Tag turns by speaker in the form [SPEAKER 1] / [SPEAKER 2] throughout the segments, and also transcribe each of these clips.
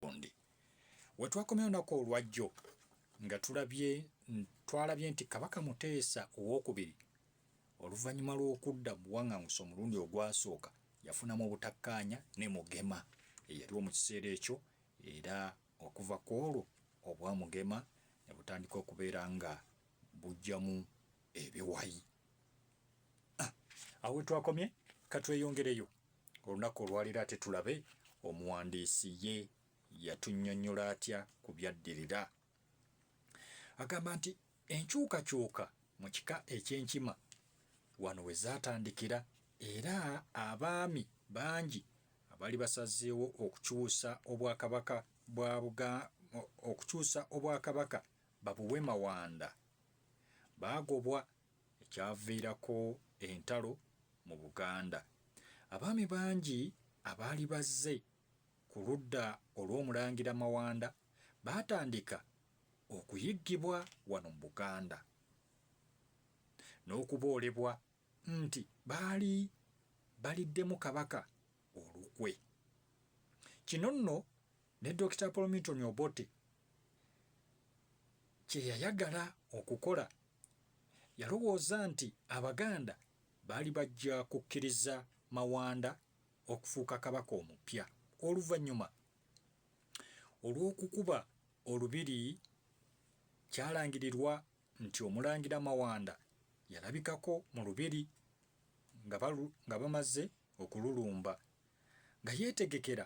[SPEAKER 1] bundi wetwakomya olunaku olwajjo nga tulabye twalabye nti kabaka muteesa owokubiri oluvannyuma lw'okudda mu buwaŋŋanguse omulundi ogwasooka yafunamu obutakkaanya ne mugema eyaliwo mu kiseera ekyo era okuva ku olwo obwa mugema ne butandika okubeera nga bujjamu ebiwayi ah, awo wetwakomye katweyongereyo olunaku olwaliro ate tulabe omuwandiisi ye yatunyonyola atya ku byaddirira agamba nti enkyukakyuka mu kika ekyenkima wano we zaatandikira era abaami bangi abali basazeewo okukyusa obwakabaka bwa okukyusa obwakabaka babuwe Mawanda baagobwa ekyaviirako entalo mu Buganda. Abaami bangi abaali bazze ku ludda olw'Omulangira Mawanda baatandika okuyiggibwa wano mu Buganda n'okuboolebwa nti baali baliddemu Kabaka olukwe. Kino nno Ne Dokita Paul Milton Obote kye yayagala okukola yalowooza nti Abaganda baali bajja kukkiriza Mawanda okufuuka Kabaka omupya oluvannyuma olw'okukuba Olubiri. Kyalangirirwa nti Omulangira Mawanda yalabikako mu Lubiri nga bamaze okululumba nga yeetegekera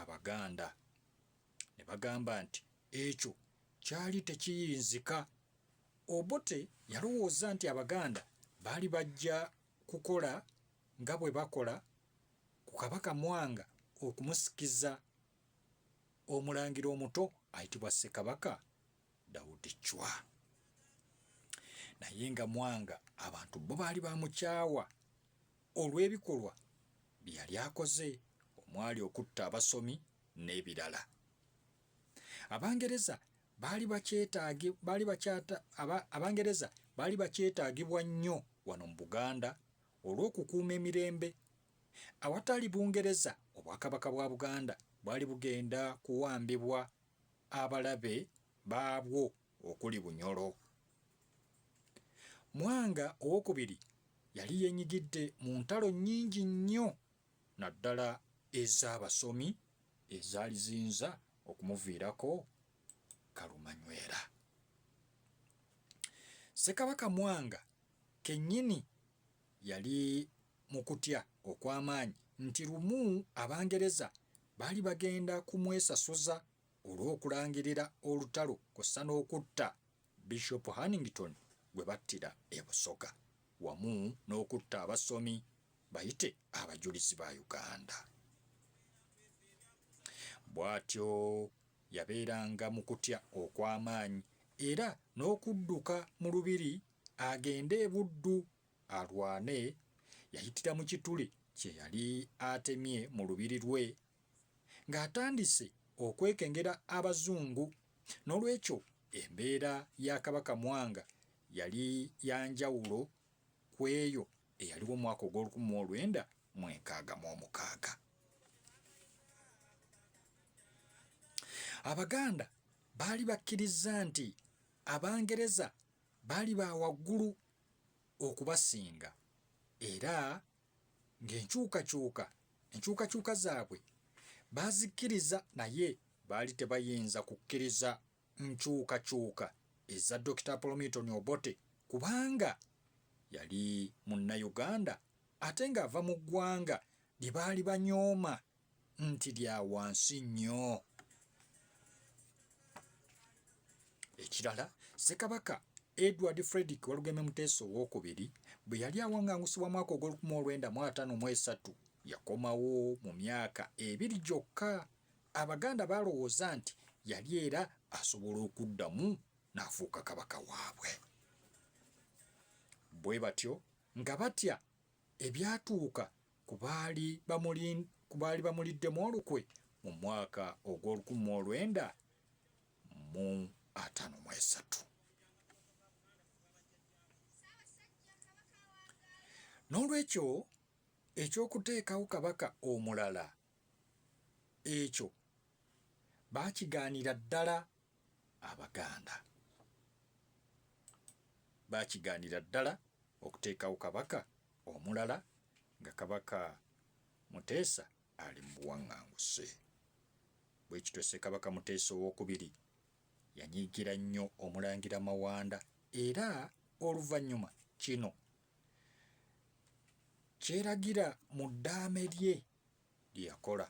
[SPEAKER 1] Abaganda ne bagamba nti ekyo kyali tekiyinzika. Obote yalowooza nti Abaganda baali bajja kukola nga bwe bakola ku Kabaka Mwanga okumusikiza omulangira omuto ayitibwa Ssekabaka Daudi Chwa. Naye nga Mwanga abantu bo baali bamukyawa olw'ebikolwa bye yali akoze omwali okutta abasomi n'ebirala. Abangereza baali bakyetaagi baali bakyata aba, Abangereza baali bakyetaagibwa nnyo wano mu Buganda olw'okukuuma emirembe. Awatali Bungereza Obwakabaka bwa Buganda bwali bugenda kuwambibwa abalabe baabwo okuli Bunyoro. Mwanga owokubiri yali yenyigidde mu ntalo nnyingi nnyo naddala ez'abasomi ezaali ziyinza okumuviirako kalumanywera. Ssekabaka Mwanga kennyini Yali mu kutya okw'amaanyi nti lumu Abangereza baali bagenda kumwesasuza olw'okulangirira olutalo kw'ossa n'okutta Bishop Hannington gwe battira e Busoga wamu n'okutta abasomi bayite Abajulizi ba Uganda. Bw'atyo yabeeranga mu kutya okw'amaanyi era n'okudduka mu Lubiri agende e Buddu alwane, yayitira mu kituli kye yali atemye mu lubiri lwe ng'atandise okwekengera Abazungu. N'olwekyo embeera ya Kabaka Mwanga yali ya njawulo ku eyo eyaliwo mu mwaka ogw'olukumi mu olwenda mu enkaaga mu omukaaga. Abaganda baali bakkirizza nti Abangereza Baali ba waggulu okubasinga era ng'enkyukakyuka enkyukakyuka zaabwe baazikkiriza naye baali tebayinza kukkiriza nkyukakyuka eza Dokita Apollo Milton Obote kubanga yali Munnayuganda ate ng'ava mu ggwanga lye baali banyooma nti lya wansi nnyo. Ekirala Ssekabaka Edward Fredrick Walugembe Muteesa owokubiri bwe yali awangangusibwa mwaka ogw'olukumi olwenda mu ataano mu esatu yakomawo mu myaka ebiri gyokka. Abaganda baalowooza nti yali era asobola okuddamu n'afuuka Kabaka waabwe. Bwe batyo nga batya ebyatuuka ku baali ku baali bamuliddemu olukwe mu mwaka ogw'olukumi mu olwenda mu ataano mu esatu. N'olwekyo eky'okuteekawo kabaka omulala ekyo baakigaanira ddala Abaganda baakigaanira ddala okuteekawo Kabaka omulala nga Kabaka Muteesa ali mu buwaŋŋanguse. Bwe kityo Ssekabaka Muteesa ow'okubiri yanyiigira nnyo Omulangira Mawanda era oluvannyuma kino kyeragira mu ddaame lye lye yakola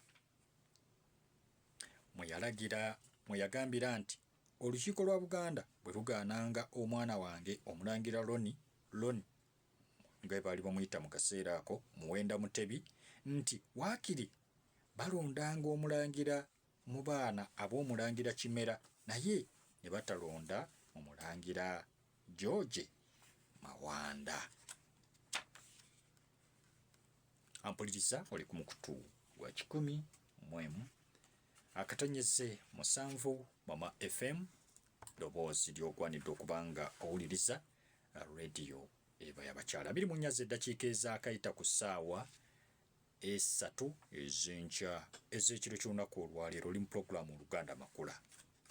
[SPEAKER 1] mwe yalagira mwe yagambira nti olukiiko lwa Buganda bwe lugaananga omwana wange Omulangira Loni Loni nga baali bamuyita mu kaseera ako Muwenda Mutebi nti waakiri balondanga Omulangira mu baana ab'Omulangira Kimera naye ne batalonda Omulangira George Mawanda. Ampuliriza oli ku mukutu gwa kikumi mu emu akatonyeze musanvu Mama FM ddoboozi ly'ogwanidde okuba nga owuliriza rediyo eba yabakyala biri mu nyazi eddakiika ezaakayita ku ssaawa esatu ezenkya ez'ekiro ky'olunaku olwaleero oli mu pulogulaamu oluganda makula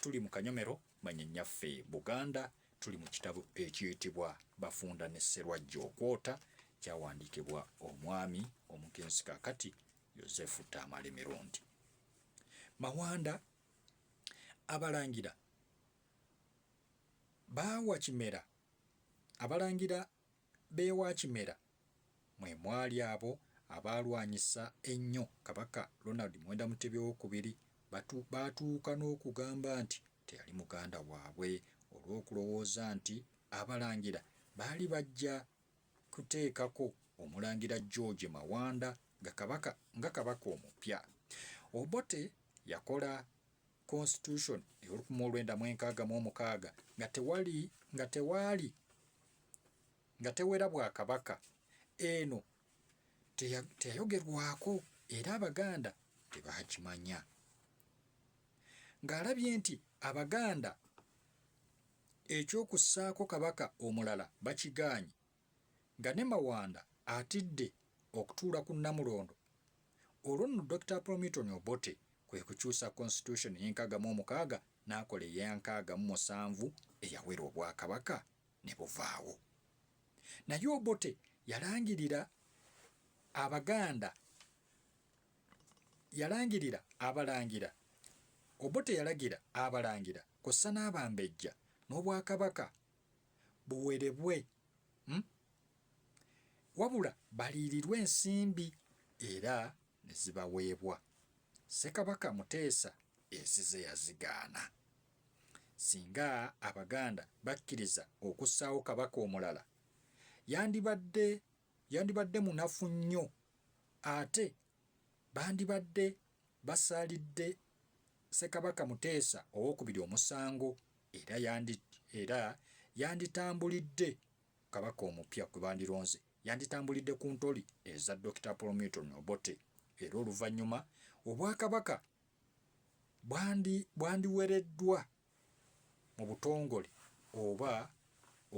[SPEAKER 1] tuli mu kanyomero Manya nyaffe Buganda tuli mu kitabo ekiyitibwa Bafunda ne Sserwajja okwota kyawandiikibwa omwami omugenzi kakati Yozefu Tamale Mirundi Mawanda. Abalangira baawa Kimera abalangira b'ewa Kimera mwe mwali abo abaalwanyisa ennyo Kabaka Ronald Muwenda Mutebi Owookubiri baatuuka n'okugamba nti teyali muganda waabwe olw'okulowooza nti Abalangira baali bajja kuteekako Omulangira George Mawanda nga Kabaka omupya. Obote yakola. Constitution ey'olukumi mu olwenda mu enkaaga mu omukaaga nga tewali nga tewaali nga tewera bwakabaka eno teyayogerwako era abaganda tebakimanya ng'alabye nti abaganda ekyokussaako kabaka omulala bakigaanyi nga ne Mawanda atidde okutuula ku Namulondo, olwo nno Dokita Promiton Obote kwe kukyusa Konsitutyusoni y'enkaaga mu omukaaga n'akola eya nkaaga mu musanvu eyawera Obwakabaka ne buvaawo. Naye Obote yalangirira Abaganda yalangirira Abalangira Obote yalagira Abalangira kw'ossa n'Abambejja n'Obwakabaka buwerebwe hmm? wabula baliirirwe ensimbi era ne zibaweebwa ssekabaka muteesa ezize yazigaana singa abaganda bakkiriza okussaawo kabaka omulala yandibadde yandibadde munafu nnyo ate bandibadde basalidde Ssekabaka Muteesa ow'okubiri omusango era yandi era yanditambulidde Kabaka omupya gwe bandironze yanditambulidde ku ntoli eza Dokita Paul Milton Obote era oluvannyuma Obwakabaka bwandi bwandiwereddwa mu butongole oba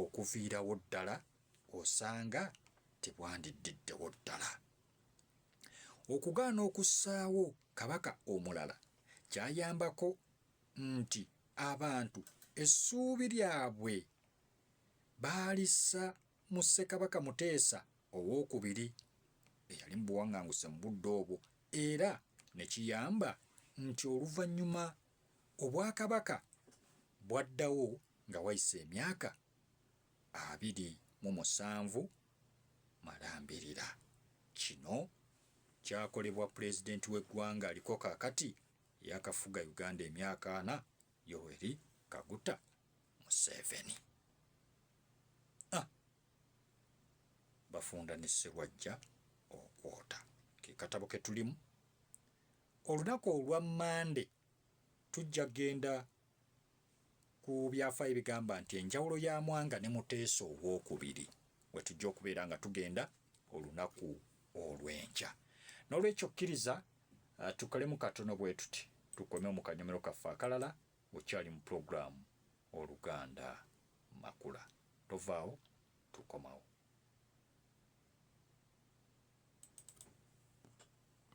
[SPEAKER 1] okuviirawo ddala osanga tebwandiddiddewo ddala. Okugaana okussaawo Kabaka omulala kyayambako nti abantu essuubi lyabwe baalissa mu Ssekabaka Muteesa ow'okubiri eyali mu buwaŋŋanguse mu budde obwo era ne kiyamba nti oluvannyuma Obwakabaka bwaddawo nga wayise emyaka abiri mu musanvu malambirira. Kino kyakolebwa Pulezidenti w'eggwanga aliko kaakati eyakafuga Uganda emyaka ana Yoweri Kaguta Museveni. A. Bafunda ne Sserwajja okwota. Ke katabo ke tulimu. Olunaku olwa Mmande tujja kugenda ku byafaayo ebigamba nti enjawulo ya Mwanga ne Muteesa ow'okubiri we tujja okubeera nga tugenda olunaku olw'enkya. N'olwekyo kkiriza tukolemu katono bwe tuti tukomewo mu kanyomero kaffe akalala. Okyali mu pulogulaamu Oluganda Makula. Tovaawo, tukomawo.